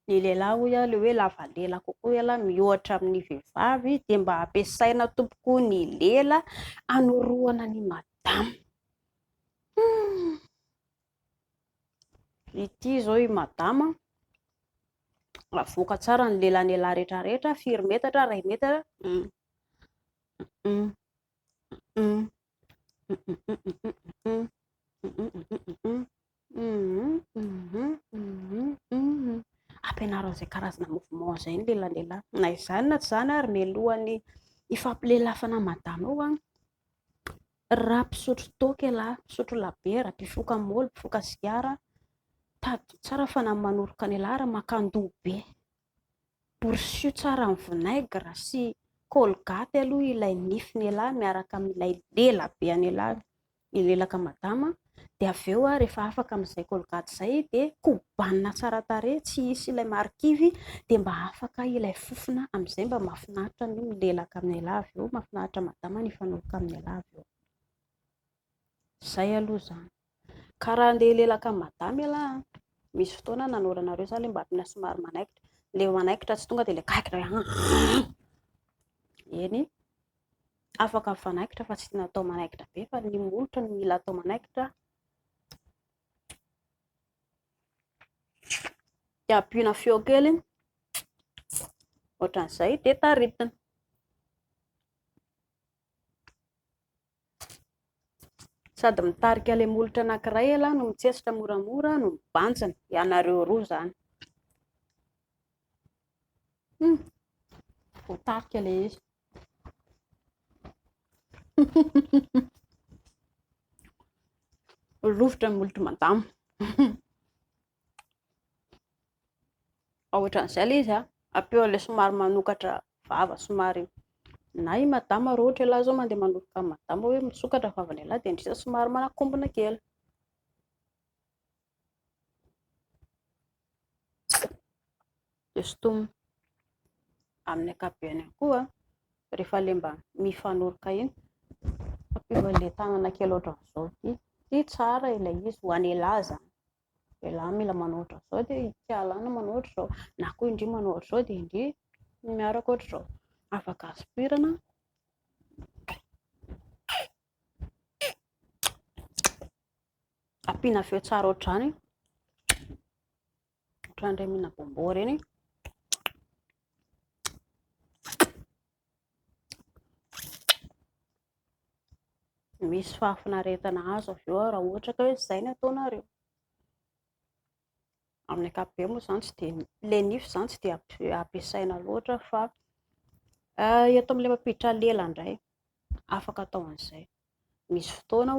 ny lehilahy hoy aho ilay hoe lava lela kokoa ialahy miohatra amin'ny vehivavy dia mba ampiasaina tompoko ny lela hanorohana ny madama hmm. Ity izao i madama, avoaka tsara ny lelan'elah retraretra, firy metatra, iray metatra, hum, hum, hum, ampianaro an'izay karazana mouvement izay ny lelan'elah, na izany na tsy izany ary mialohan'ny hifampilelafana madama eo an, Raha mpisotro toaka ialahy, mpisotro labiera, mpifoka moly, mpifoka sigara, tadidio tsara fa na manoroka ny ialahy ary makan-doha be. Borosio tsara amin'ny vinaigre sy colgate aloha ilay nify ny ialahy miaraka amin'ilay lela be an'ialahy, ny lelaka madama. dia avy eo rehefa afaka amin'izay colgate izay dia kobanina tsara tarehy tsy hisy ilay marikivy dia mba afaka ilay fofona amin'izay mba mahafinaritra ny milelaka amin'ialahy avy eo mahafinaritra madama ny hifanohitra amin'ialahy avy eo izay aloha izany ka raha andeha hilelaka amin'i madama ialahy an misy fotoana nanoranareo izany ilay mba tena somary manaikitra ilay manaikitra tsy tonga dia ilay kaikitra eny afaka mifanaikitra fa tsy tiana atao manaikitra be fa ny molotra no mila atao manaikitra dia ampiana feo kely ohatran'izay dia taritina sady mitarika ilay molotra anankiray ela no mitsetsitra moramora no mibanjina ianareo roa izany hmm. voatarika ilay izy Rovitra ny molotry madama. Ohatran'izay ilay izy, ampeo an'ilay somary manokatra vava somary. Na i madama raha ohatra ialahy izao mandeha manolotra an'i madama hoe misokatra ny vavan'ialahy dia indrisy somary manakombona kely. dia sotomina amin'ny ankapobeny ihany koa rehefa ilay mba mifanoroka iny, ampiana an'ilay tanana kely ohatran'izao ity, ity tsara ilay izy ho an'elah izany, elah mila manao ohatran'izao dia ity alana manao ohatran'izao, na koa indry manao ohatran'izao dia indry ny miaraka ohatran'izao, afaka aspirana. Ampiana feo tsara ohatr'izany. Ohatr'an'ireny mihina bonbon ireny. Misy fahafinaretana azo avy eo raha ohatra ka hoe izay no ataonareo. Amin'ny ankapobeny moa izany tsy dia ilay nify izany tsy dia ampiasaina loatra fa eto amin'ilay mampiditra lela indray afaka atao an'izay. Misy fotoana